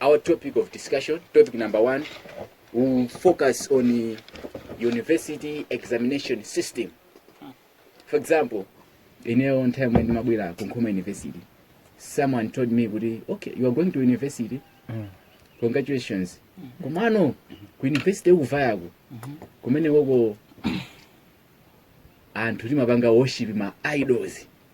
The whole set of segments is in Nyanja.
Our topic of discussion, topic number one, will focus on the university examination system. For example, in your own time when Mabwira Kunkuma University, someone told me, kuti, okay, you are going to university. Congratulations. Kumano, ku university ukuvayako. Kumene woko anthu timapanga worship ma idols.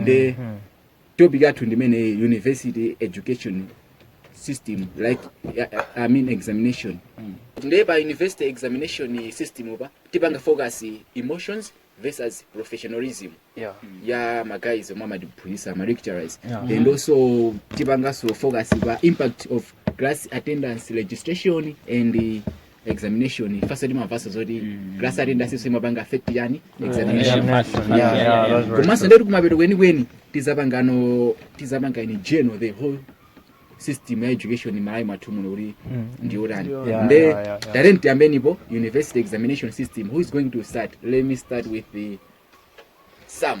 nde Mhm. topic yathu ndimene university education system like I- I- i mean examination nde pa university examination system pa tipanga focus emotions versus professionalism Yeah. ya maguys omwe amatiphunzitsa ma lecturers Yeah. and also tipanganso focus pa impact of class attendance registration and examination ifase timavasa zoti class attendance so imapanga affect yani examination Examination, yeah, yeah, that's very komanso true. ndeti kumapeto kwenikweni tizapangano tizapanga in general the whole system ya education malawi mwathu muno kuti ndiotani Yeah, nde yeah, yeah, yeah. talent yambenipo university examination system who is going to start let me start with the sam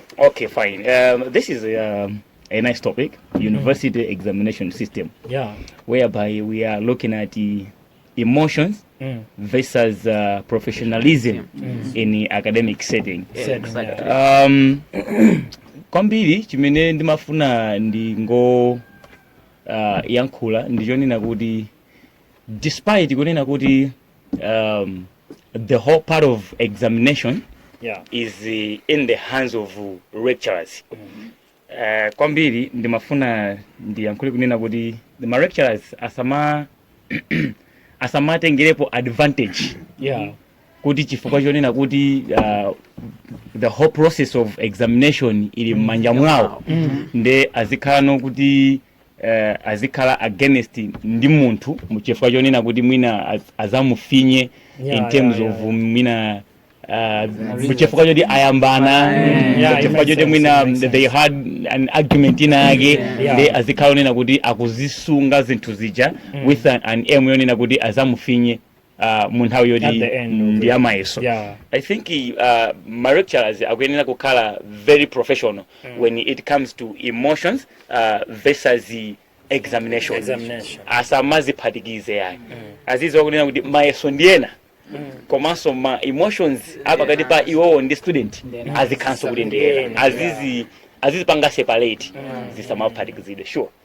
Okay, fine. Um, this is um, a nice topic, university examination system, yeah whereby we are looking at the emotions mm. versus uh, professionalism in the academic setting. Said, exactly. yeah. Um, kwambiri chimene ndimafuna ndingo uh, yankhula ndichonena kuti despite kunena kuti um, the whole part of examination yeah. is uh, in the hands of uh, lecturers mm -hmm. uh, kwambiri ndimafuna ndiyankhule kunena kuti the ma lecturers asama asamatengerepo advantage yeah. kuti chifukwa chonena kuti uh, the whole process of examination ili mmanja mwawo mm -hmm. nde azikhalano kuti eh, azikhala against ndi munthu mu- chifukwa chonena kuti mwina az- azamufinye Yeah, in terms yeah, yeah, of mwina uh, chifukwa choti ayambana Mm, yeah, it chifukwa makes choti sense, mwina it makes sense. they had an argument ina yake Yeah. nde azikhala onena kuti akuzisunga zinthu zija with an, an aim yonena kuti azamufinye uh, mu nthawi yoti At the end of ndi it. ya mayeso Yeah. i think uh, ma lecturers akuyenera kukhala very professional when it comes to emotions uh, versus the examination, Examination. asamaziphatikize yayi azidziwa kunena kuti mayeso ndi ena komanso ma emotions apakati pa iwowo ndi student Then azikhalanso kuti ndi ena azizi azizipanga separate zisamaphatikizidwe sure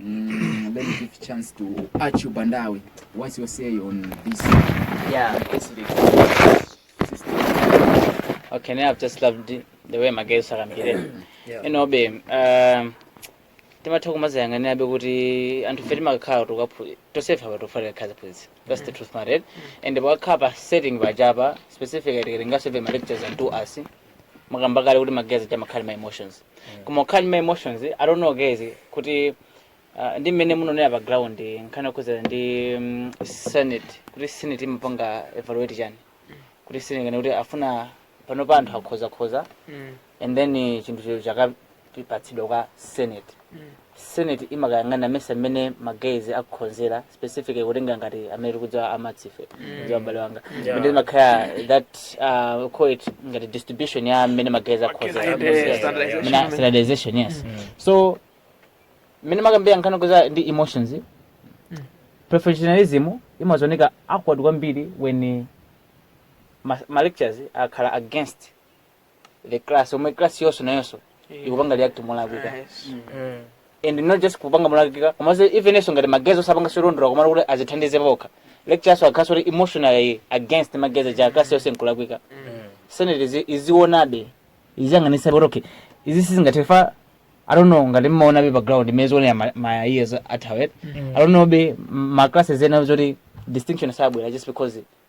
Mm, let me give chance to Achu Bandawi. What's your say on this? Yeah. This Okay, now I've just loved the, the way my guys are here. Yeah. You know, babe, um, timatha kumazayang'anira be kuti anthu fe timakhala kuti tosefa pa tofa tikakhala phunzi that's the truth mared and pakakhala pa setting pachapa specifically tikatengaso ve ma lectures and two us mwakamba kale kuti magezi timakhala ma emotions koma ukhala ndi ma emotions i don't know guys kuti uh, ndi mmene munaonera pa ground nkhani yokhuzana ndi um, senate kuti senate imapanga evaluate chani kuti senate ngati kuti afuna pano pa anthu akhozakhoza and then eh, chinthucho chaka patsidwa kwa senate senate imakayang'ana mesa mmene ma guys akukhonzera specifically kutenga ngati amene tikudziwa a Maths ife kudziwa bale wanga Yeah. kuti imakhala that uh, call it ngati distribution ya mmene ma guys akukhonzera Standardization. Standardization. Mina- standardization yes so mmene makambira nkhani yokhuza ndi emotions professionalism imazaoneka awkward kwambiri when ma, ma lectures akhala against the class omwe class yonso nayonso ikupanga react molakwika and not just kupanga molakwika komanso ifenso ngati magezi osapanga solondola komano kuti azithandize pokha lectures akhalanso kuti emotionally against magezi ja class yonse nkulakwika senate izi- izionabe iziyang'anisa kuti okay izi sizingathe fa i don't know ngati mmaonabe pa ground imene zionera ma- ma years athawa i don't know be ma classes ena zoti distinction sabwera just because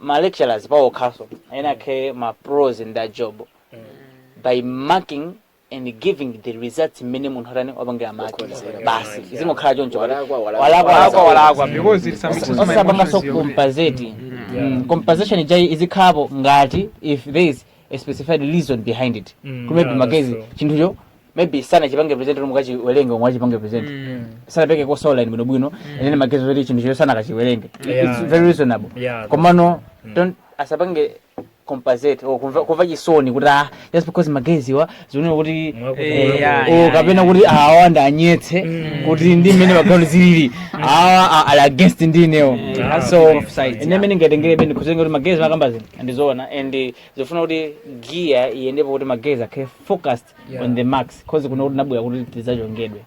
ma lecturers pawokhaso ena akhale ma pros in that job by marking and giving the results mmene munthu atani wapangira maki basi izingokhala choncho Walakwa, walakwa. walakwa walakwa walakwa because it submits my osapanga so emotions here. compensate Mm, compensation ija izikhalapo ngati if there is a specified reason behind it Mm, kuti maybe yeah, that's magezi true. chinthucho maybe sanachipange present kuti mukachiwerenge omwe achipange present Mm. sanapereke course outline bwinobwino and then magezi kuti chinthucho sanakachiwerenge Yeah. it's very reasonable Yeah. komano don't asapange compensate or kumva kumva chisoni kuti ah just because magezi wa zioneka kuti eh, ya, oh, ya, kapena ya. kuti awa andionetse kuti ndi mmene pa ground zilili awa a- ali against ndi inewo Yeah. so Both sides, ine yeah. mene ngatengelepe nde kudzapanga kuti ma grades makamba aziwa ndi zoona and eh, zofuna kuti giya iyendepo kuti ma grades akhale focused on the marks cause kuno kuti nabwera kuti tidzachongeredwe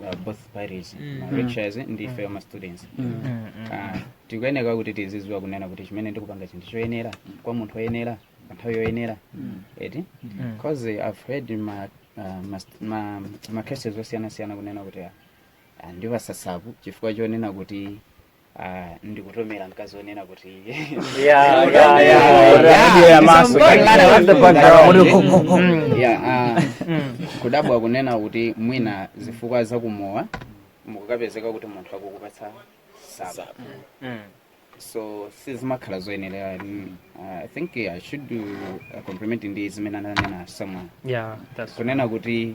uh, both parties Mm. ma lectures ndi ife ma students Ah, tikuyeneka kuti tiziziwa kunena kuti chimene ndikupanga chinthu choyenera kwa munthu oyenera pa nthawi yoyenera eti because i've heard ma ah, ma st- ma ma cases osiyanasiyana kunena kuti ah, ah, ndiwapatsa sapu chifukwa chonena kuti Ah, ndikutomera mkazi onena kuti Yeah, yeah, yeah, yeah. Yeah, maso. Mwana wa Mdogo. Mm, yeah, ah, kudabwa kunena kuti mwina zifukwa zakumowa mukukapezeka kuti munthu akukupatsa sapu so sizimakhala zoyenera mm, ah, i think i should do a compliment ndi zimene ananena someone Yeah, that's kunena kuti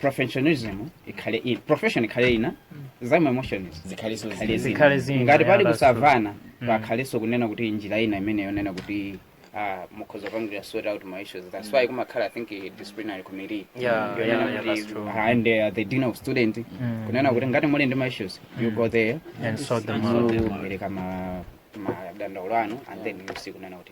professionalism ikhale in profession ikhale ina zama emotions zikhaliso zikhale zina. Zikhale zina, ngati pali yeah, that's true. kusamvana Mm. pakhalenso kunena kuti njira ina imene yonena kuti ah, mukhoza kupangira sort out ma issues that's why kumakhala i think a disciplinary committee Yeah, Yonena yeah, yeah, kuti, that's true. ah, and uh, the dean of student Mm. kunena kuti ngati muli ndi ma issues you go there and sort them out mupereka ma madandaulo anu and then you see kunena kuti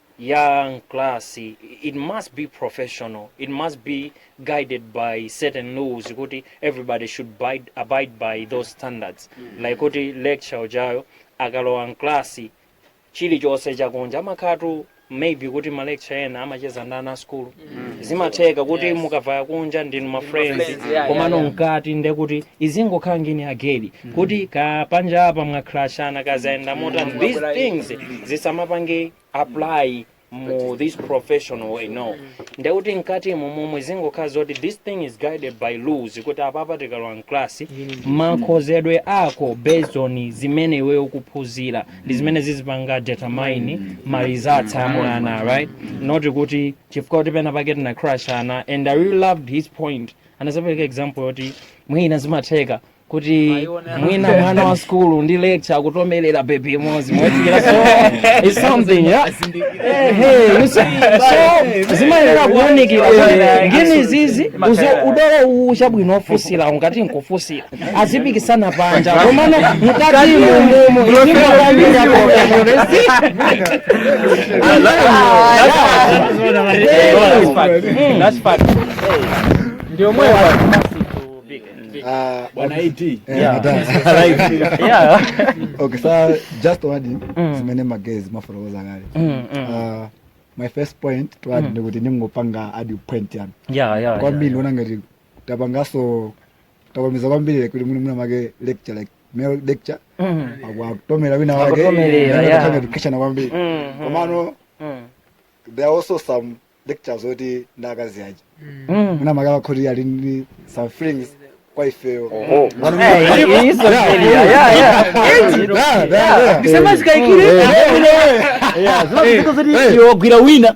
ya mklasi it must be professional it must be guided by certain laws kuti everybody should bide, abide by those standards like kuti lecture ujayo akalowa mklasi chilichonse chakunja amakhatu maybe kuti ma lecture ena amacheza ndi ana a sukulu zimatheka kuti mukavaya kunja ndinu ma friends friends, yeah, komano yeah, yeah. mkati nde kuti izingokhala ngini ya gedi kuti ka panja apa mwakrashana kazaenda motani these Mwakulai. things zisamapange apply mu this professional way no ndekuti mkati mu momwe zingokhala zoti this thing is guided by rules kuti apapa tikalowa mklasi makhozedwe ako based on zimene iweyo ukuphunzira ndi zimene zizipanga determine ma results a mwana right not kuti chifukwa kuti pena pake tinakrashana and i really loved his point anazapereka example yoti mwina zimatheka kuti mwina mwana wa sukulu ndi lecture akutomerera bebi imodzi mwachikira so it's something yeah Eh, hey, you see, so zimayenera kuunikira kuti ngini zizi uzo- udolo uwu chabwino ofusira ungati nkufusira azipikisana panja komano mukati mumo Ah, bwana AT. Yeah. Yeah. okay so just to add in Mm. zimene magezi mwafotokoza kale Mm, mm. Ah, my first point to add Mm. ndikuti ndingopanga add point yani Yeah, yeah, kwa yeah, mimi yeah. ndiona ngati tapangaso tawamiza kwambiri like kuti mwinamwake lecture like male lecture Mm. aku- akutomera wina wake Akutomerera, Mwina yeah. atake education kwambiri Mm. komano Mm. there are also some lectures oti ndi akazi aja Mm. mwinamwake akhoti ali ndi some feelings kwa ifeyo Oho. Hey, it is a failure. Yeah, yeah. Yeah, yeah, yeah. Isema zikaikire. Yeah, yeah. Yeah, zimaziko zoti iwe wagwira wina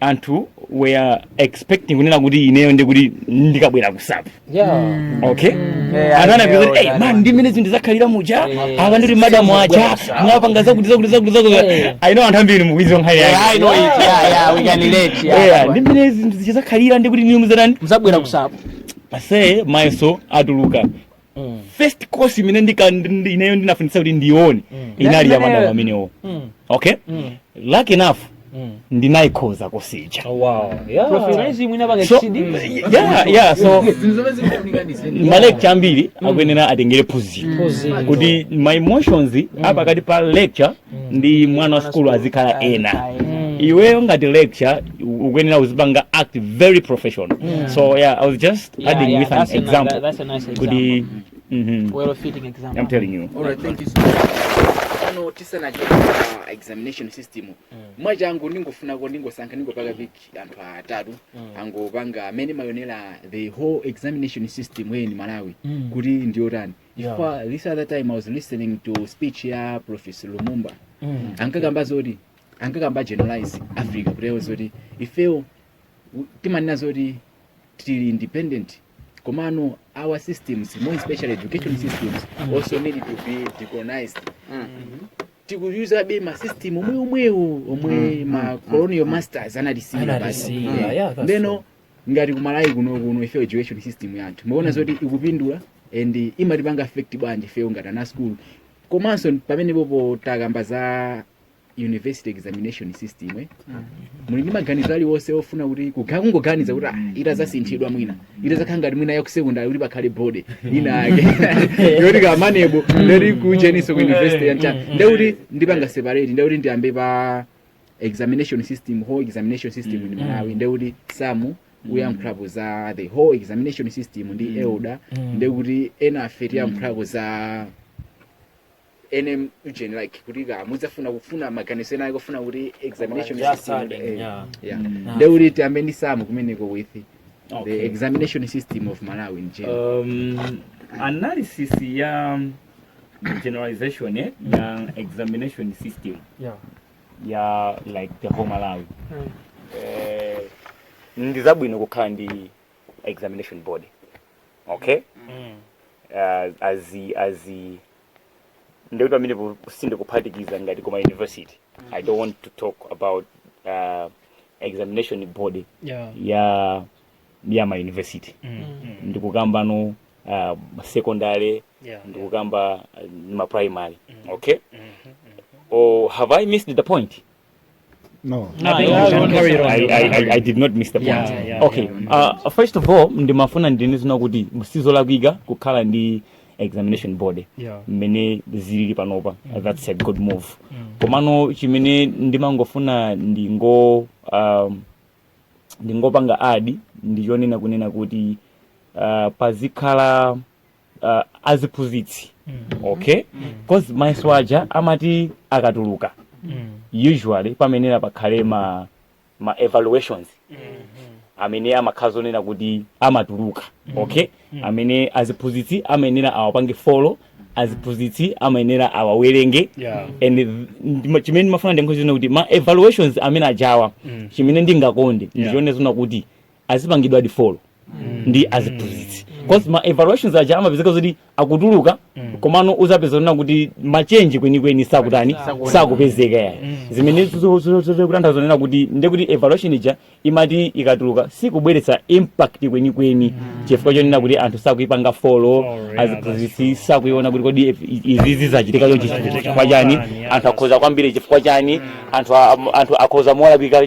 anthu were expecting kunena kuti ineyo ndi kuti ndikabwera kusapu okay Yeah, anthu anapeza kuti yeah, "Hey, man ndi mmene zinthu zakhalira muja Yeah. apa ndi madamu aja mwapanga zakuti zakuti zakuti zakuti Yeah. I know anthu ambiri mukuidziwa nkhani Yeah, I yake know it. Yeah, yeah, we can relate. Yeah, Yeah, ndi mmene zinthu zidzakhalira ndi kuti inuyo muzatani mzabwera kusapu ase mayeso atuluka mm. first course imene ndika ineyo ndinafunitsa kuti ndione mm. inali ya madam amenewo mm. okay mm. lucky enough mm. ndinaikhoza kusonyeza oh, wow. yeah. so, yeah, yeah, so malecture ambiri mm. akuyenera atengere phunziro mm. kuti ma emotions mm. apakati pa lecture ndi mwana wa sukulu azikhala ena iweyo ngati lecture u- ukuyenera uzipanga act very professional so yeah i was just Yeah, adding yeah, with an that's a ni- example that's a nice kuti mhm, well fitting example i'm telling you Alright, thank you so much. Ano tisanachoka pa examination system mwachangu ndingofunako ndingosankha ndingopanga pick anthu atatu angopanga mmene mumaionera the whole examination system in Malawi kuti ndiyotani chifukwa this other time i was listening to speech ya professor lumumba Mm. ankakamba zoti ankakamba generalize africa kutero zoti ifewo u- timanena zoti tili independent komano our systems more especially education systems also need to be decolonized tikuyuzabe masystem omwe omwewo omwe ma colonial masters anatisiyira basi Anatisiyira, yeah, that's ndeno ngati kumalawi kuno kuno ife education system yathu mukuona zoti ikupindula and imatipanga affect bwanji ifeyo ngati ana school komanso pamenepopo takamba za university examination system eh? muli ndi maganizo aliwonse ofuna kuti kuga- kungoganiza kuti ah, itazasinthidwa mwina itazakhala ngati mwina yakusekondari kuti pakhale board inayake yoti ka MANEB ndati kucheniso ku university yancha ndekuti ndipanga separate ndekuti ndiyambe pa examination system whole examination system in Mm. malawi nde kuti samu uyankhulapo za the whole examination system ndi Mm. elder Mm. nde kuti ena afe tiyankhulapo za nanga ujeni like kuti ka mudzafuna kufuna maganizo ena akufuna kuti examination Just system adding, eh, yeah. yeah. Mm. Nah. nde kuti tiyambe ndi samu kumeneko with the Okay. examination system of malawi in general Um, analysis ya generalization eh, ya examination system yeah. ya like the whole malawi mm. eh, ndi zabwino kukhala ndi examination board okay mm. uh, azi azi ndikuti pamene po- sindikuphatikiza ngati koma university i don't want to talk about uh, examination board yeah. ya ya ma university mm. ndikukamba no uh, secondary yeah, ndikukamba eh, ndi ma primary okay or have i missed the point No. I think you can carry it on. I, I, I, I did not miss the point. Yeah, yeah, okay. Uh, first of all, ndimafuna ndinene zonena kuti sizolakwika kukhala ndi examination body Yeah. mmene zilili panopa that's a good move komano chimene ndimangofuna ndingo um, ndingopanga add ndichonena kunena kuti uh, pazikhala uh, aziphunzitsi okay cause mayeso aja amati akatuluka usually pamayenera pakhale ma ma evaluations amene amakhala zonena kuti amatuluka okay amene aziphunzitsi amayenera awapange follow aziphunzitsi amayenera awawerenge Yeah. and th- ndima- chimene ndimafuna ndiyankhe zonena kuti ma evaluations amene ajawa chimene ndingakonde ndichione zonena kuti azipangidwadi follow ndi aziphunzitsi cause ma evaluations aja amapezeka zoti akutuluka komano uzapeza kunena kuti ma change kwenikweni sakutani sakupezeka yayi zimene zikutanthauza kunena kuti ndekuti evaluation ija imati ikatuluka sikubweretsa impact kwenikweni chifukwa chonena kuti anthu sakuipanga follow aziphunzitsi sakuiona kuti kodi if- izizi zachitika chonchi chifukwa chani anthu akhoza kwambiri chifukwa chani anthu a- anthu akhoza mowalabika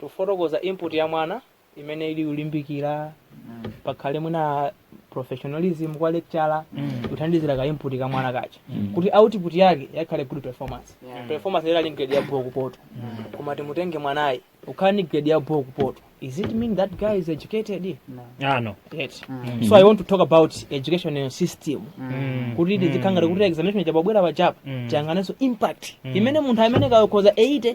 tifotokoza input ya mwana imene ili kulimbikira pakhale mwina professionalism kwa lecturer kuthandizira ka input ka mwana kaja kuti output yake yakhale good performance performance yake ali grade ya bho kupoto koma timutenge mwanayi wokhala ndi grade ya bho kupoto is it mean that guy is educated Ah, no. yet so i want to talk about educational system Mm. kuti tizikhala ngati kuti examination chababwera pachapa Mm. tiyang'anenso impact imene munthu amene kakhoza 80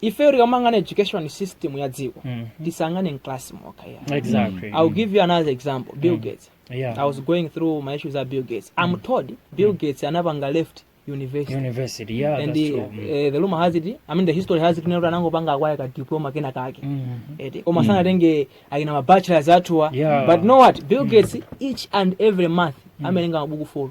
ifeyo tikamang'ana education system ya dziko Mhm. tisang'ane mclass mokha ya exactly i'll give you another example bill gates yeah i was going through my issues at bill gates i'm told bill gates anapanga left university university yeah and that's the, true Mm. eh, the rumor has it i mean the history has it kuti anangopanga akwaya ka diploma kena kake Mhm. eti koma sanatenge akina mabachelors athuwa Yeah. but know what bill gates each and every month amawerenga mabuku folo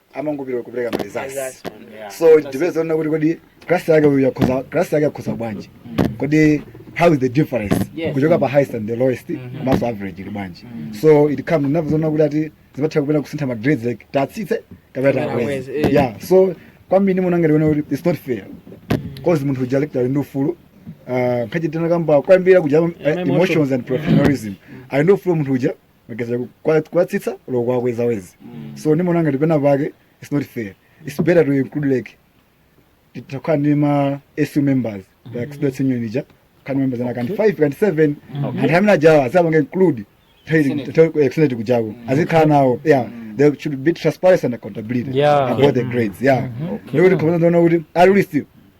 amangopita kupereka ma results so it depends on kuti kodi class yake uyu yakhoza class yake yakhoza bwanji kodi how is the difference Yes. kuchoka pa highest and the lowest komanso average ili bwanji so it comes ndinamva zoti kuti ati zimatha kupena kusintha ma grades like tatsitse kapena Kapena takweze kweze, eh. yeah so kwambiri munanga ndiona kuti it's not fair cause munthu uja lecturer ali ndi ufulu ah, nkhachitana kamba kwambira kuja eh, emotions and professionalism ali ndi ufulu munthu uja mageza kwa- kwatsitsa loko kwakweza wezi so ndimaona ngati pena pake its not fair its better to include like titakhala ndi ma su members like students union ija kaya members anayi kaya 5 kaya 7 anthu amene ajawa azipanga include extended kujako azikhala nawo yeah there should be transparency and accountability Yeah. about the grades yeah ndikuti khona ndona kuti at least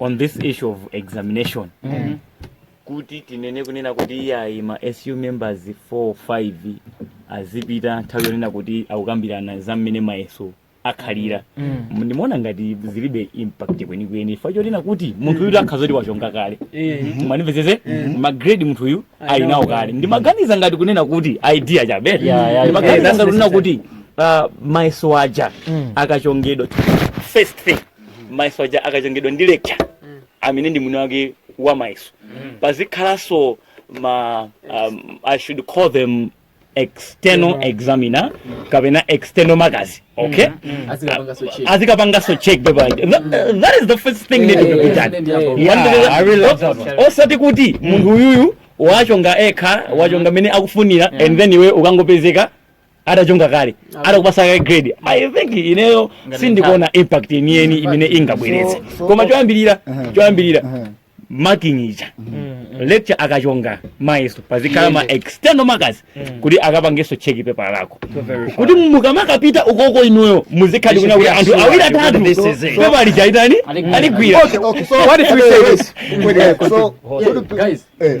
on this issue of examination mm. kuti tinene kunena kuti iyayi ma su members 4 5 azipita nthawi yonena kuti akukambirana za mmene mayeso akhalira mm. ndimaona ngati zilibe impact kwenikweni chifukwa chonena kuti munthu uyu akhala kuti wachonga kale mm. mundimvetsetse mm. magrade munthu uyu ali nawo kale ndimaganiza ngati kunena kuti idea chabe yeah, yeah, ndimaganiza yeah, ngati kunena kuti uh, mayeso aja mm. akachongedwa first thing mayeso aja akachongedwa ndi lecturer Mm. amene ndi mwini wake wa mayeso pazikhalanso ma um, i should call them external examiner kapena external markers okay azikapangaso check azikapangaso check paper aja. Tha- that is the first thing Yeah, needed yeah, to be yeah, done yeah, yeah. Yeah, Wandele- I really love that one. osati kuti munthu uyuyu wachonga ekha wachonga mmene akufunira and then iwe ukangopezeka atachonga kale Apo. atakupasa kale grade i think ineyo Ngati sindikuona impact yeniyeni imene ingabweretse So- so- koma choyambirira Uh-huh. choyambirira Uh-huh. marking ija lecturer akachonga mayeso pazikhala ma external markers kuti akapangeso check pepala lako kuti mukamakapita ukoko inuyo muzikhala kuti anthu awiri atatu This is it. pepala lija atani aligwira Okay, okay, so What if we say this? Wait, wait, so, so do pe- guys eh,